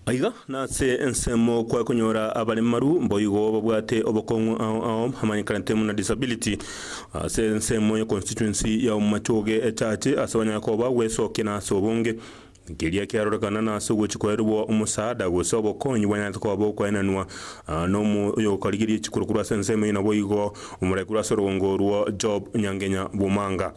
Aiga nase ensemo kwaya konyora abaremaru mboigo babwate obokong'u ao ao amanyekanete muna disability. Ase ensemo ya constituency ya Omomachoge echache ase abanyare koba gwesokia na ase obonge. Keria kiarorekana na ase ogochi koerwa omosaada gose obokonyi bwanyarete koba bokoenanwa nomo oyokorigeria chikura kura ase ensemo eye naboigo omorai kura ase orogongo orwo Job Nyangenya Bumanga.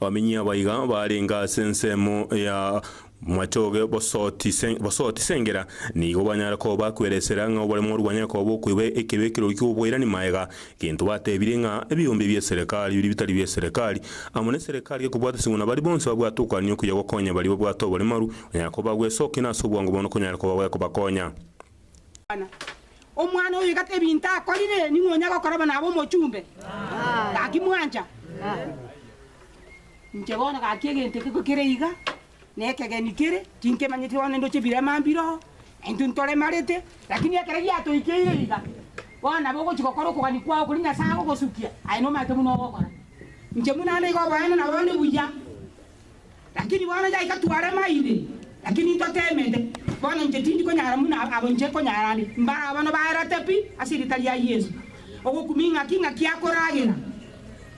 Abamenyi abaiga baarenge ase ensemo ya Mwachoge bosoti bosoti Sengera nigo banyare koba kweresera ng'a obore morwani akoba okoiba ekebi ekirori ki'oboirani maega, gento batebirie ng'a ebiombia bie serekari biria bitari bie serekari amo ne serekari gekobwata eseng'u na baria bonsi babwate okoania okuya gokonya baria babwate oboremaru onyare koba gwesokina ase obwango bono konyare koba gwekobakonya. Omwana oyo iga tebinto akorire, ning'o onya gokoraba nabe omochumbe? Gaki mwancha? Inche bono gaki egento eke kere iga, nekegeni kere, tinkemanyeti bono nindoche ebirema mbiro, intwe ntoremarete, lakini ekero giatoikeire iga, bono nabo ogochi gokora okogania kwao koria Nyasaye agogosukia, aye nomanyete buna ogokora. Inche buna nigo oboene nabande buya. Lakini bono yaika twarema inde, lakini ntoteemete. Bono inche tindi konyara buna abo inche konyara ande, mbare abana baerete pi ase erieta ria Yeso. Ogokumi ing'aki ing'aki akoragera,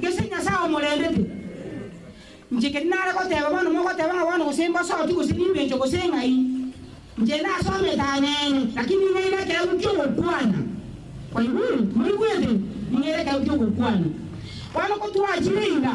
gese Nyasae omorendete. Inche keri nare goteeba bono mogoteba ng'a bono gose mbosooki gose nimbencho gose ng'ai, inche nasomete aneene, lakini ning'eire ekeegwa ki'ogokwana. Kwaigure? Timoigwete? Ning'eire ekeegwa ki'ogokwana. Bono ko twachire iga.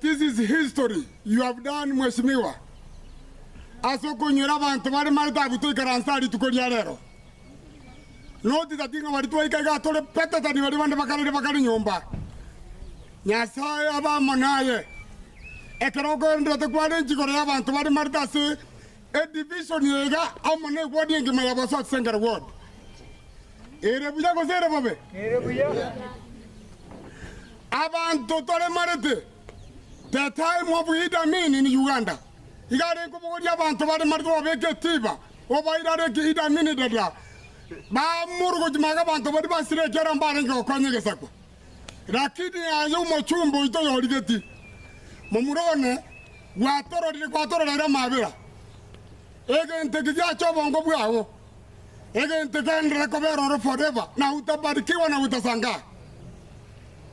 This is history you have done mweshimiwa ase okonywera abanto bare marita abwo toikaranse aa rituko ria rero. Not that ng'a baria twaika iga tore better than baria bande bakarire bakare nyomba. Nyasae abe amo naye. Ekero okoenderete kware enchikoro y'abanto bare marita ase Edivision eye iga amo ne wodi engima ya Bosaso Central Ward. Ere buya gose ere bobe? Ere buya. Abanto toremarete. The time of Idi Amin in Uganda. Iga are kobogoria abanto baremarete babeke etiba obaire are ki Idi Amin dada. Bamorogochi maga abanto baria basire ekiara mbarenge gokonya egesakwa. Lakini aye omochumba oito yorigeti, momura one, gwatororire, gwatororeire amabera, egento eke giache obongo bwao, egento egenderere kobera ore forever, na utabarikiwa na utasangaa.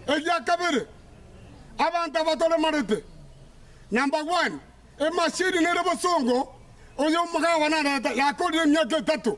Egia kabere, abanto aba toremarete, na mbagwani, emashini nere bosongo, oyo omogawa nareta, yakorire emiaka etato,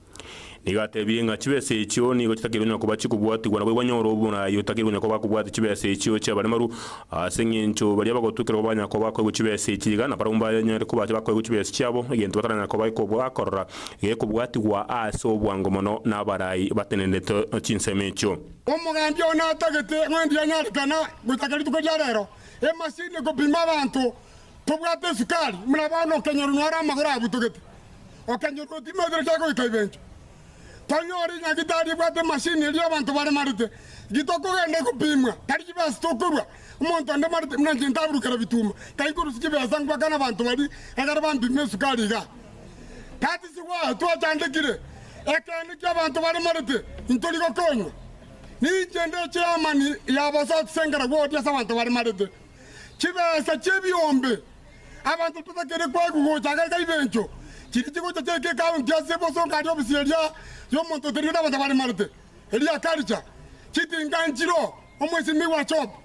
Nigo atebirie ng'a chibesa echio nigo chitakeirwe onye koba chikobwatigwa nabo igwa nyore obonayi otakeirwe onye koba akobwate chibesa echio chi'abaremaru, ase engencho baria bagotukerwa banya koba koigwa chibesa echi iga nabarabwo mbanyare koba bakoigwa chibesa chiabo, egento bataranya koba bakorora gekobwatigwa ase obwango mono nabarai batenenete chinsemo echio. Omogambi oo natagete ng'a ndianyarekana gochaka rituko ria rero, emasini ekopima abanto Tobwate esukari, buna bono okenyoro nore amagoro abutogete, okenyoro otimaetire kia goika ibencho. Tari ore nyagitari ebwate emashini eria abanto baremarete, gitokogenda gopimwa, tari chibesa tokorua, omonto onde marete buna inche ntaburukera bituma, tai korusia chibesa ngwakana abanto baria egere bampime esukari iga. That is why twachandekire, Ekeene kia abanto baremarete, intori gokonywa. Ninche nde chairman ya bosotsengera bw'ogotiasa abanto baremarete. chibesa chi'ebiombe, abanto totakeire koigwa gocha agaiga ibencho, chiria chigocha chiaika ekaaru inki ase ebosongo aria obisi eria y'omonto oterigwe nabato baremarete, eria akaricha chitinga nchiro omwesimigwa achope.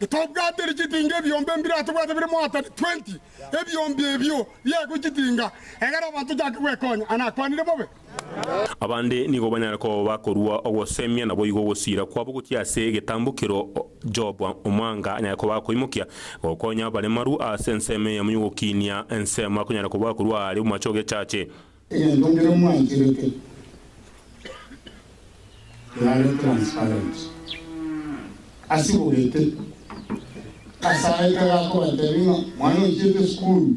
Tobwatiri chitinga ebiombe mbire atobwate bire moatani twenty, ebiombe ebio biaigwe chitinga, egera abanto ochake gwekonya. Anakwanire bobe? Abande nigo banyare koba bakorua ogosemia, naboigo ogosiira kwabo gochia ase egetambokero. Jehova omwaanga anyare koba akoimokia gokonya abaremaru ase ensemo eyemo y'ogokinia, ensemo akonyara koba akorua aare omoache og'echache. Egento kere mwaikirete kerare transparent. Asibogete, Kasae kare akobatebia ng'a mwana oichete esukuru,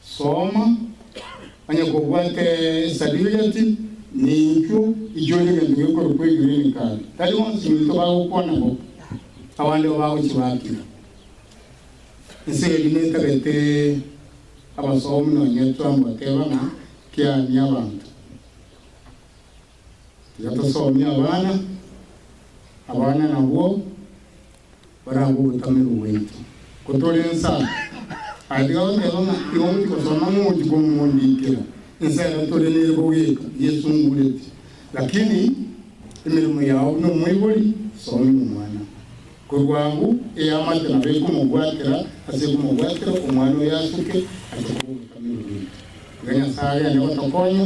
Soma, Onye kobwate esartifiketi, ninchuo ichore egento gekorokwa egreen card. Tari bonsi baito bagokwana bo, abande bo bagochibakera. Ense eye nigo etarete abasomi nonya twambateba ng'a kiani abanto. Tiga tosomie abana, abana nabwo. baragwe ogotamerwa gwaito. Ko tore ensa aa, agatiga goteba ng'a igo mochie gosoma mogochie komondikera. Ensa ero tore nere bogeka yesungureti. Lakini emeremo yao buna omoibori, soma ime omwana. Korwa agwo eamate nabo ekomobwatera ase ekomobwatera omwana oyo asuke ache koba ogotamerwa gwaito. Iga Nyasae agende gotokonya.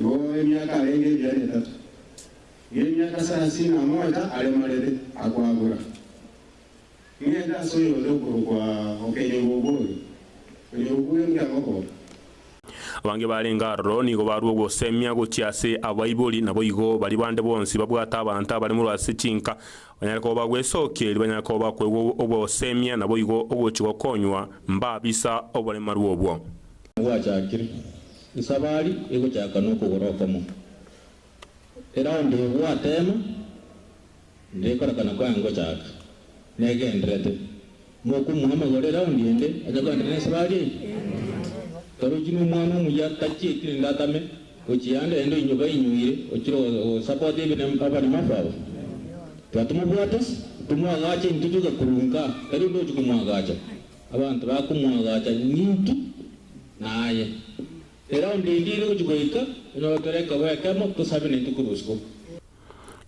Igo emiaka arenge ebiara etato, erio emiaka sarasini na mocha aremarete, akwabora, Ng'ende ase oyonde okorokwa Okenyoro Obwoyo, Okenyoro bw'Oyo Mbia Ngokoka. Abange barenge aroro nigo barua ogosemia gochia ase abaibori, naboigo baria bande bonsi babwate abanto abaremorwe ase chinka, banyare koba bagwesokia, erio banyare koba bakoigwa ogosemia, naboigo ogochia gokonywa mbabisa oboremaru obwo. Nabwachakire Nsabari egochaka nokogoro okomo, eraundire gwatema, ndekorekana kwa ngochaka negenderete, mokomoa amagoro eraundi ende acha koenderera nensabari eye. Karochi nomwana omuya tachieti rende atame gochia ande ende inyoba inyoire ochire gosupport abanyamafu aba. Tiga tomobwate, tomoagache intwe toiga korwa nka, tari onde ogochia komoagacha. Abanto bakomoagacha ng'intu naye. Ere onde ndiri gochia goika, onye ogotera ekebo ekemo, tosabe naintwe korwa isiko.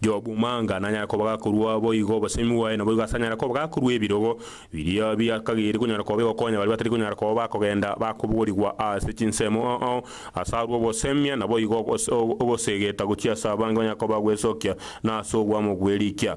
Jobu manga nanyare kobaga korwa boigo obosemi bwaye, naboigo asanyare kobaga korwa ebirogo biria biakageri konyara koba bigokonya baria batari konyara koba bakogenda bakobogorigwa ase chinsemo. Oo, as'arue ogosemia, naboigo ogosegeta gochia as'abange onyare koba gwesokia nas'obwamo bwe rikia.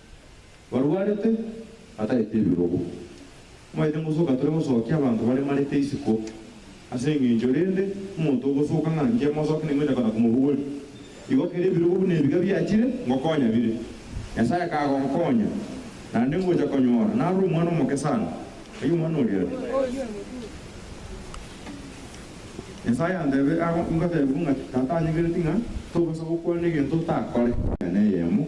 barwarete, bataete ebirogo. Mwaete ngosoka tore gosokia abanto baremarete isiko. Ase engencho rende, omonto ogosoka ng'a inche mosoke ning'wenyete kona komobogori. Igo kera ebirogo buna ebiga biachire, ngokonya bire. Nyasaye kagonkonya, naende ngocha konyora nare omwana omoke sana. Erio omwana oria are. Nyasaye antebe, Aa, ingotebi buna ng'a Tata anyegereti ng'a togosaba okwane egento otakore. Enyene eyemo.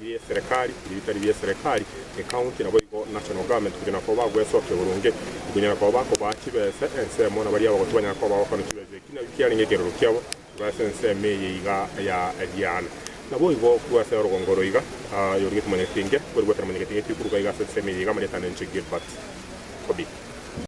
Bi'eserekari, ebi bitari bi'eserekari, ecounty, naboigo national government, kuchia nakoba bagwesokia boronge, nkonyara koba bakobaa chibesa ensemo, na baria abagoti banyara koba bagokonya chibesa eki nabio kiarenge ekerero kiabo korwa ase ensemo eye iga ya ebiana. Naboigo korwase orogongo roiga, aye origetie Mwanyagetenge, kweri gwekera Mwanyagetenge ekio koruga iga ase ensemo eye iga, amarieta nere inche Gilbert Kobi.